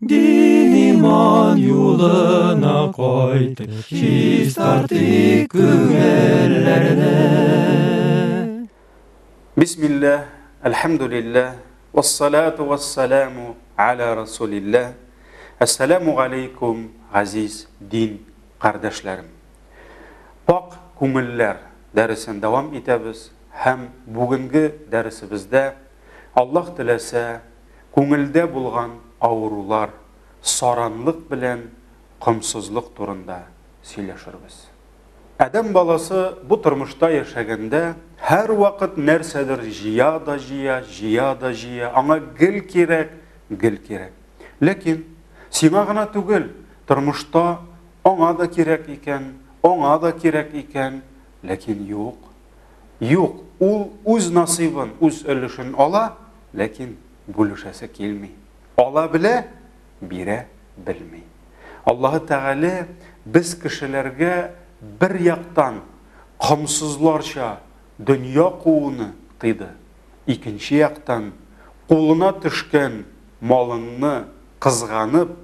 Дин иман юлына кайтып, чистартыйк күңелләрне. Бисмилләһ, әлхәмдүлилләһ, вассалату вассаламу аля расулилләһ. Әссәламу галәйкүм, газиз дин кардәшләрем. Пакь күңелләр дәресен дәвам итәбез һәм бүгенге дәресебездә, Аллаһ теләсә, күңелдә булган авырулар, саранлык белән комсызлык турында сөйләшербез. Адәм баласы бу тормышта яшәгәндә, һәрвакыт нәрсәдер җыя да җыя, җыя да җыя, аңа гел кирәк, гел кирәк. Ләкин сиңа гына түгел, тормышта аңа да кирәк икән, аңа да кирәк икән, ләкин юк. Юк, ул үз насыйбын, үз өлешен ала, ләкин бүлешәсе килми. Ала белә, бирә белми. Аллаһы Тәгалә без кешеләргә бер яктан комсызларча дөнья кууны тыйды, икенче яктан, кулына төшкән малыңны кызганып,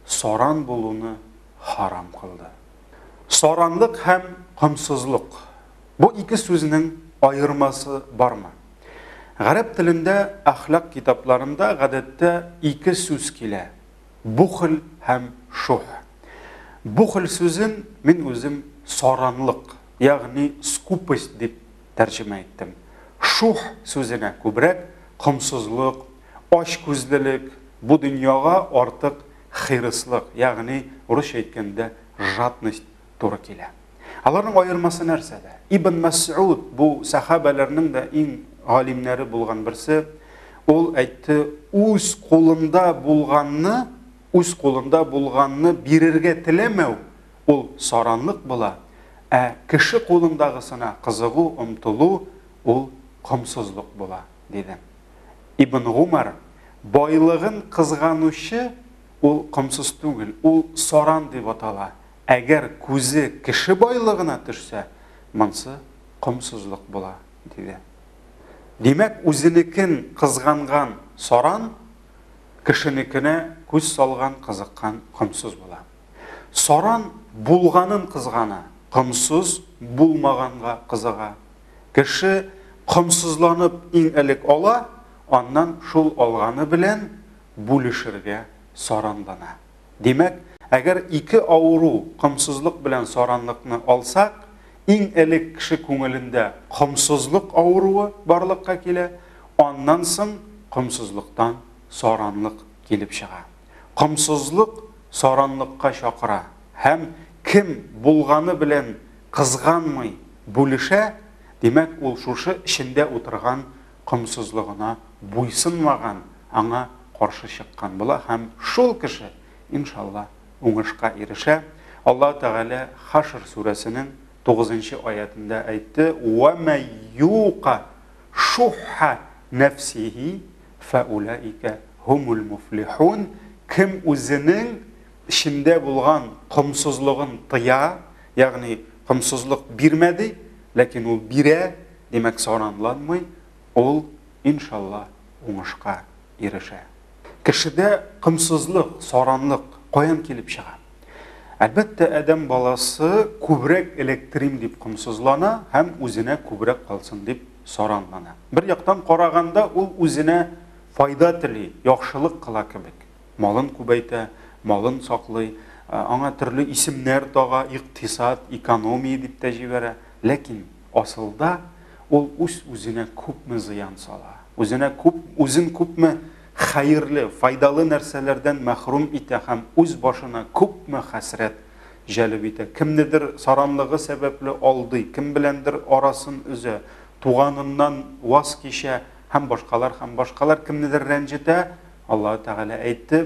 саран булуны харам кылды. Саранлык һәм комсызлык. Бу ике сүзнең аермасы бармы? Гарәп телендә әхлак китапларында гадәттә ике сүз килә, бухл һәм шуһ. Бухл сүзен мин үзем саранлык, ягъни скупость дип тәрҗемә иттем. Шуһ сүзенә күбрәк комсызлык, ачкүзлелек, бу дөньяга артык хирыслык, ягъни урысча әйткәндә жадность туры килә. Аларның аермасы нәрсәдә? Ибн Мәсгуд бу сахабәләрнең дә иң галимнәре булган берсе. Ул әйтте, үз кулында булганны, үз кулында булганны бирергә теләмәү, ул саранлык була, ә кеше кулындагысына кызыгу, омтылу, ул комсызлык була, диде. Ибн Гумар, байлыгын кызганучы ул комсыз түгел, ул саран дип атала, Әгәр күзе кеше байлыгына төшсә, монсы комсызлык була, диде. Димәк, үзенекен кызганган саран, кешенекенә күз салган, кызыккан комсыз була. Саран булганын кызгана, комсыз булмаганга кызыга. Кеше комсызланып иң элек ала, аннан шул алганы белән бүлешергә саранлана. Димәк, әгәр ике авыру комсызлык белән саранлыкны алсак, иң элек кеше күңелендә комсызлык авыруы барлыкка килә, аннан соң комсызлыктан саранлык килеп чыга. Комсызлык саранлыкка чакыра һәм кем булганы белән кызганмый бүлешә, димәк, ул шушы эчендә утырган комсызлыгына буйсынмаган, аңа каршы чыккан була һәм шул кеше, иншалла, уңышка ирешә. Аллаһ Тәгалә Хашр сүрәсенең тугызынчы аятендә әйтте, «Вә мә юка шухха нәфсихи фәүләикә һумул муфлихун». Кем үзенең эчендә булган комсызлыгын тыя, ягъни комсызлык бирмә ди, ләкин ул бирә, Димәк, саранланмый, ул, иншалла, уңышка ирешә. Кешедә комсызлык, саранлык каян килеп чыга? Әлбәттә, адәм баласы күбрәк электрим дип комсызлана һәм үзенә күбрәк калсын дип саранлана. Бер яктан караганда, ул үзенә файда тели, яхшылык кыла кебек. Малын күбәйтә, малын саклый, аңа төрле исемнәр тага, икътисад, экономия дип тә җибәрә. Ләкин Асылда, ул үз-үзенә күпме зыян сала, үзенә күп, үзен күпме хәерле, файдалы нәрсәләрдән мәхрүм итә һәм үз башына күпме хәсрәт җәлеп итә. Кемнедер саранлыгы сәбәпле алдый, кем беләндер арасын өзә, туганыннан ваз кичә һәм башкалар һәм башкалар кемнедер рәнҗетә, Аллаһы Тәгалә әйтте,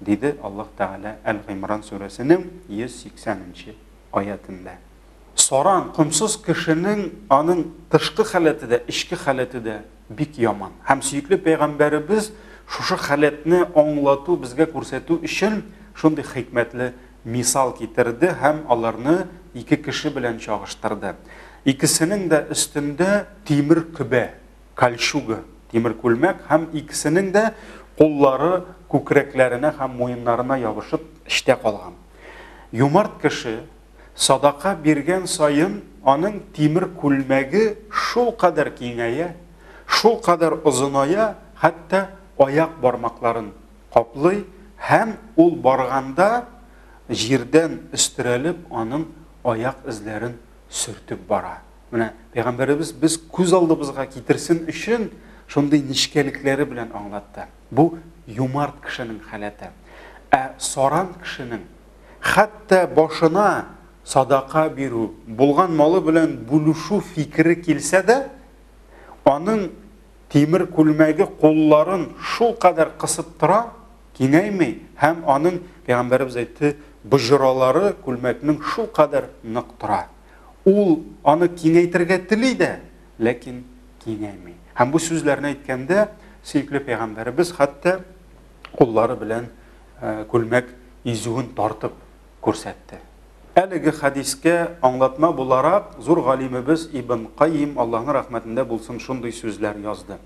диде Аллаһ Тәгалә Әл-Гыймран сүрәсенең 180 нче аятендә. Саран, комсыз кешенең аның тышкы халәте дә, эчке халәте дә бик яман. Һәм сөекле пәйгамбәребез шушы халәтне аңлату, безгә күрсәтү өчен шундый хикмәтле мисал китерде һәм аларны ике кеше белән чагыштырды. Икесенең дә өстендә тимер көбә, кольчуга, тимер күлмәк һәм икесенең дә куллары күкрәкләренә һәм муеннарына ябышып эчтә калган. Юмарт кеше садака биргән саен аның тимер күлмәге шулкадәр киңәя, шулкадәр озыная, хәтта аяк бармакларын каплый һәм ул барганда җирдән өстерәлеп аның аяк эзләрен сөртеп бара. Менә пәйгамбәребез без күз алдыбызга китерсен өчен шундый нечкәлекләре белән аңлатты. Бу юмарт кешенең халәте. Ә саран кешенең хәтта башына садака бирү, булган малы белән бүлешү фикере килсә дә, аның тимер күлмәге кулларын шул кадәр кысып тора, кинәйми һәм аның пәйгамбәребез әйтте, боҗралары күлмәкнең шул кадәр нык тора. Ул аны киңәйтергә тели дә, ләкин киңәйми. Һәм бу сүзләрне әйткәндә, сөекле пәйгамбәребез хәтта куллары белән э, күлмәк изүен тартып күрсәтте. Әлеге хәдискә аңлатма буларак зур галимебез Ибн Кайим Аллаһның рәхмәтендә булсын шундый сүзләр язды.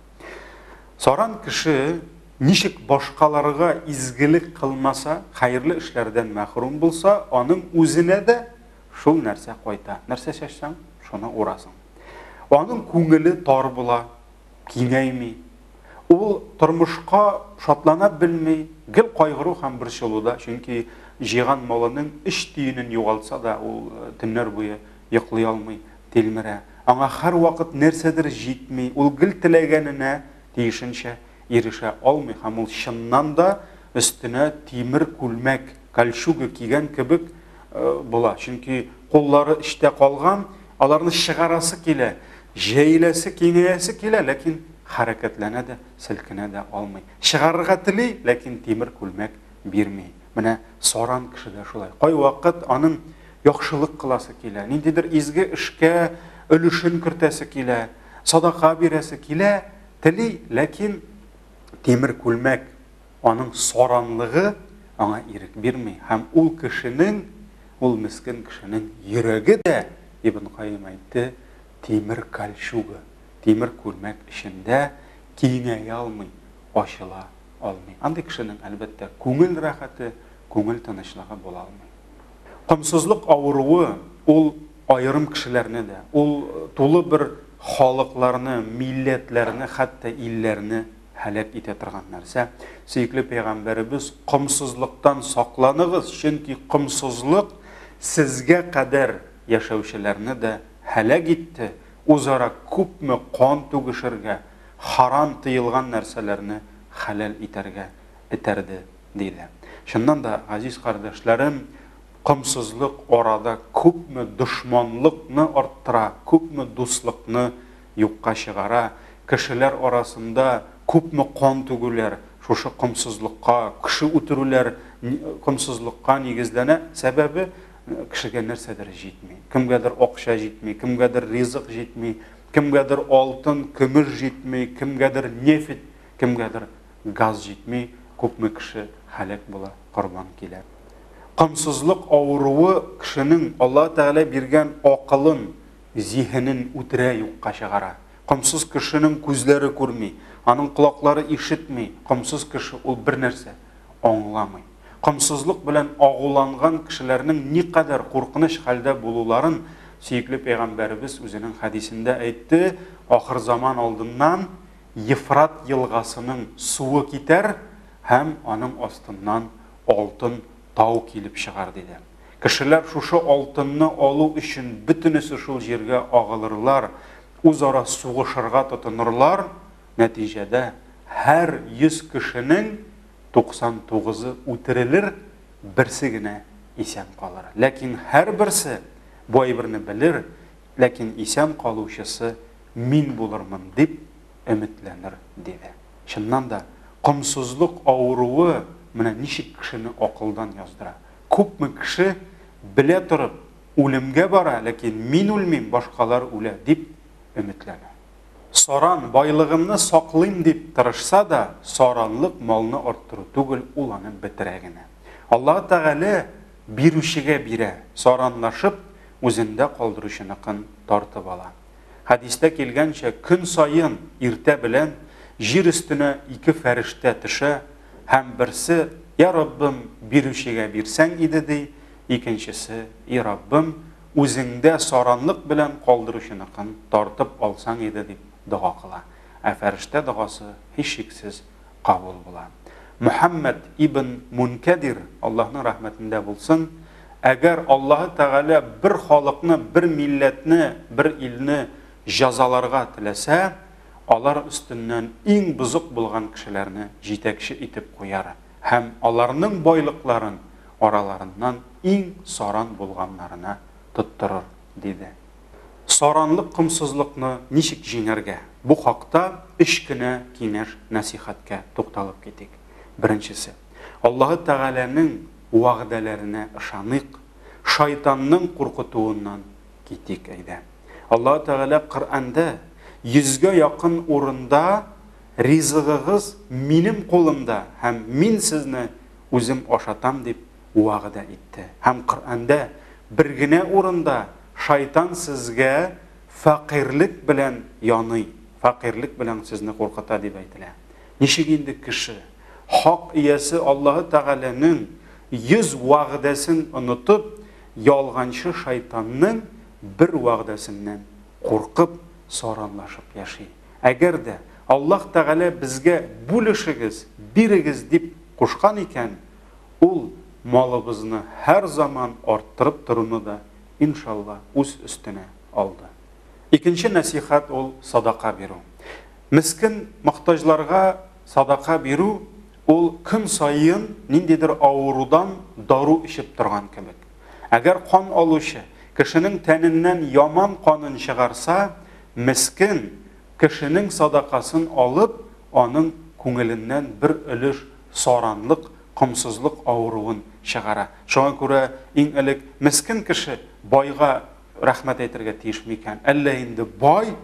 Саран кеше ничек башкаларга изгелек кылмаса, хәерле эшләрдән мәхрүм булса, аның үзенә дә Шул нәрсә кайта. Нәрсә чәчсәң, шуны урасың. Аның күңеле тар була, киңәйми. Ул тормышка шатлана белми, гел кайгыру һәм борчылуда, чөнки җыйган малының өч тиенен югалтса да, ул э, төннәр буе йоклый алмый, тилмерә. Аңа һәрвакыт нәрсәдер җитми, ул гел теләгәненә тиешенчә ирешә алмый һәм ул чыннан да өстенә тимер күлмәк, кольчуга кигән кебек була. Чөнки куллары эчтә калган, аларны чыгарасы килә, җәеләсе, киңәясе килә, ләкин хәрәкәтләнә дә, селкенә дә алмый. Чыгарырга тели, ләкин тимер күлмәк бирми. Менә саран кеше дә шулай. Кайвакыт аның яхшылык кыласы килә, ниндидер изге эшкә өлешен кертәсе килә, садака бирәсе килә, Тели, ләкин тимер күлмәк, аның саранлыгы аңа ирек бирми һәм ул кешенең, ул мескен кешенең йөрәге дә, Ибн Каим әйтте, тимер кальчуга, тимер күлмәк эчендә киңәя алмый, ачыла алмый. Андый кешенең, әлбәттә, күңел рәхәте, күңел тынычлыгы була алмый. Комсызлык авыруы, ул Аерым кешеләрне дә, ул тулы бер халыкларны, милләтләрне, хәтта илләрне һәлак итә торган нәрсә. Сөекле пәйгамбәребез, Комсызлыктан сакланыгыз, чөнки комсызлык сезгә кадәр яшәүчеләрне дә һәлак итте, үзара күпме кан түгешергә, харам, тыелган нәрсәләрне хәләл итәргә этәрде, диелә. Чыннан да, газиз кардәшләрем, Комсызлык арада күпме дошманлыкны арттыра, күпме дуслыкны юкка чыгара, кешеләр арасында күпме кан түгүләр шушы комсызлыкка, кеше үтерүләр комсызлыкка нигезләнә. Сәбәбе, кешегә нәрсәдер җитми. Кемгәдер акча җитми, кемгәдер ризык җитми, кемгәдер алтын, көмеш җитми, кемгәдер нефть, кемгәдер газ җитми, күпме кеше һәлак була, корбан килә. Комсызлык авыруы кешенең Аллаһы Тәгалә биргән акылын, зиһенен үтерә юкка чыгара. Комсыз кешенең күзләре күрми, аның колаклары ишетми, комсыз кеше ул бернәрсә аңламый. Комсызлык белән агуланган кешеләрнең никадәр куркыныч хәлдә булуларын сөекле пәйгамбәребез үзенең хәдисендә әйтте, Ахырзаман алдыннан Ефрат елгасының суы китәр һәм аның астыннан алтын тау килеп чыгар, диде. Кешеләр шушы алтынны алу өчен бөтенесе шул җиргә агылырлар, үзара сугышырга тотынырлар, нәтиҗәдә һәр 100 кешенең 99-ы үтерелер, берсе генә исән калыр. Ләкин һәрберсе бу әйберне белер, Ләкин исән калучысы мин булырмын дип өметләнер, диде. Чыннан да, комсызлык авыруы менә ничек кешене акылдан яздыра. Күпме кеше, белә торып, үлемгә бара, ләкин мин үлмим, башкалар үлә, дип өметләнә. Саран, байлыгымны саклыйм дип тырышса да, саранлык малны арттыру түгел, ул аны бетерә генә. Аллаһы Тәгалә Бирүчегә бирә, саранлашып, үзендә калдыручыныкын тартып ала. Хәдистә килгәнчә, көн саен иртә белән җир өстенә ике фәрештә төшә һәм берсе, Йә Раббым, бирүчегә бирсәң иде, ди, икенчесе, И Раббым, үзеңдә саранлык белән калдыручыныкын тартып алсаң иде, дип дога кыла. Ә фәрештә догасы, һичшиксез, кабул була. Мөхәммәд ибн Мункәдир, Аллаһның рәхмәтендә булсын, әгәр Аллаһы Тәгалә бер халыкны, бер милләтне, бер илне җазаларга теләсә, алар өстеннән иң бозык булган кешеләрне җитәкче итеп куяр һәм аларның байлыкларын араларыннан иң саран булганнарына тоттырыр, диде. Саранлык комсызлыкны ничек җиңәргә? Бу хакта өч кенә киңәш-нәсыйхәткә тукталып китик. Беренчесе. Аллаһы Тәгаләнең вәгъдәләренә ышаныйк, шайтанның куркытуыннан китик, әйдә. Аллаһы Тәгалә Коръәндә йөзгә якын урында Ризыгыгыз минем кулымда һәм мин сезне үзем ашатам дип вәгъдә итте. Һәм Коръәндә бер генә урында шайтан сезгә фәкыйрьлек белән яный, фәкыйрьлек белән сезне куркыта дип әйтелә. Ничек инде кеше, Хак Иясе Аллаһы Тәгаләнең йөз вәгъдәсен онытып, ялганчы шайтанның бер вәгъдәсеннән куркып, саранлашып яши? Әгәр дә Аллаһ Тәгалә безгә бүлешегез, бирегез дип кушкан икән, Ул малыбызны һәр заман арттырып торуны да, иншалла, үз өстенә алды. Икенче нәсыйхәт ул садака бирү. Мескен мохтаҗларга садака бирү ул көн саен ниндидер авырудан дару эчеп торган кебек. Әгәр кан алучы кешенең тәненнән яман канын чыгарса, мескен кешенең садакасын алып, аның күңеленнән бер өлеш саранлык, комсызлык авыруын чыгара. Шуңа күрә иң элек мескен кеше байга рәхмәт әйтергә тиеш микән? Әллә инде бай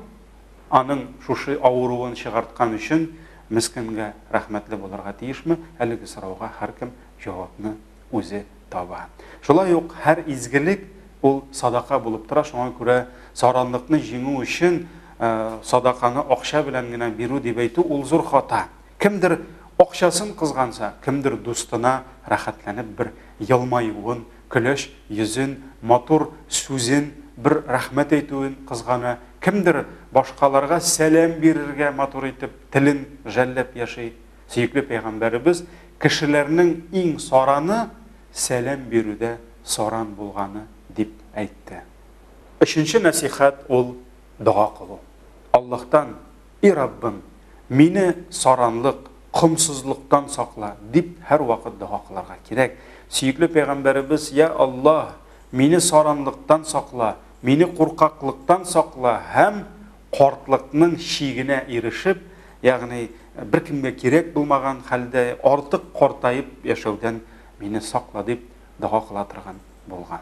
аның шушы авыруын чыгарткан өчен мескенгә рәхмәтле булырга тиешме? Әлеге сорауга һәркем җавапны үзе таба. Шулай ук һәр изгелек ул садака булып тора, шуңа күрә саранлыкны җиңү өчен садаканы акча белән генә бирү дип әйтү ул зур хата. Кемдер акчасын кызганса, кемдер дустына рәхәтләнеп бер елмаюын, көләч йөзен, матур сүзен, бер рәхмәт әйтүен кызгана, кемдер башкаларга сәлам бирергә матур итеп телен жәлләп яши. Сөекле пәйгамбәребез, Кешеләрнең иң сараны сәлам бирүдә саран булганы, дип әйтте. Өченче нәсыйхәт ул, дога кылу. Аллаһтан И Раббым, мине саранлык, комсызлыктан сакла, дип һәрвакыт дога кылырга кирәк. Сөекле пәйгамбәребез, Я Аллаһ, мине саранлыктан сакла, мине куркаклыктан сакла һәм картлыкның чигенә ирешеп, ягъни беркемгә кирәк булмаган хәлдә артык картаеп яшәүдән мине сакла, дип дога кыла торган булган.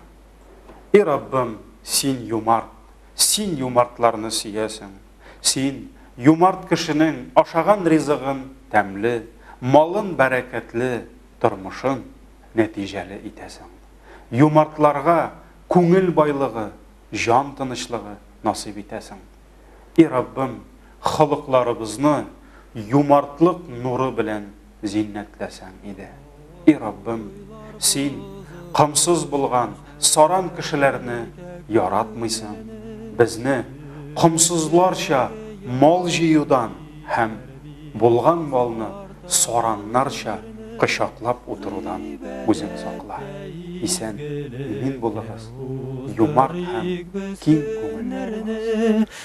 И Раббым, син юмарт, син юмартларны сөясең. Син, юмарт кешенең ашаган ризыгын тәмле, малын бәрәкәтле, тормышын нәтиҗәле итәсең. Юмартларга күңел байлыгы, җан тынычлыгы насыйп итәсең. И Раббым, холыкларыбызны юмартлык нуры белән зиннәтләсәң иде. И Раббым, Син комсыз булган саран кешеләрне яратмыйсың, безне комсызларча мал җыюдан һәм булган малны сараннарча кочаклап утырудан үзең сакла. Исән, имин булыгыз, юмарт һәм киң күңелле булыгыз.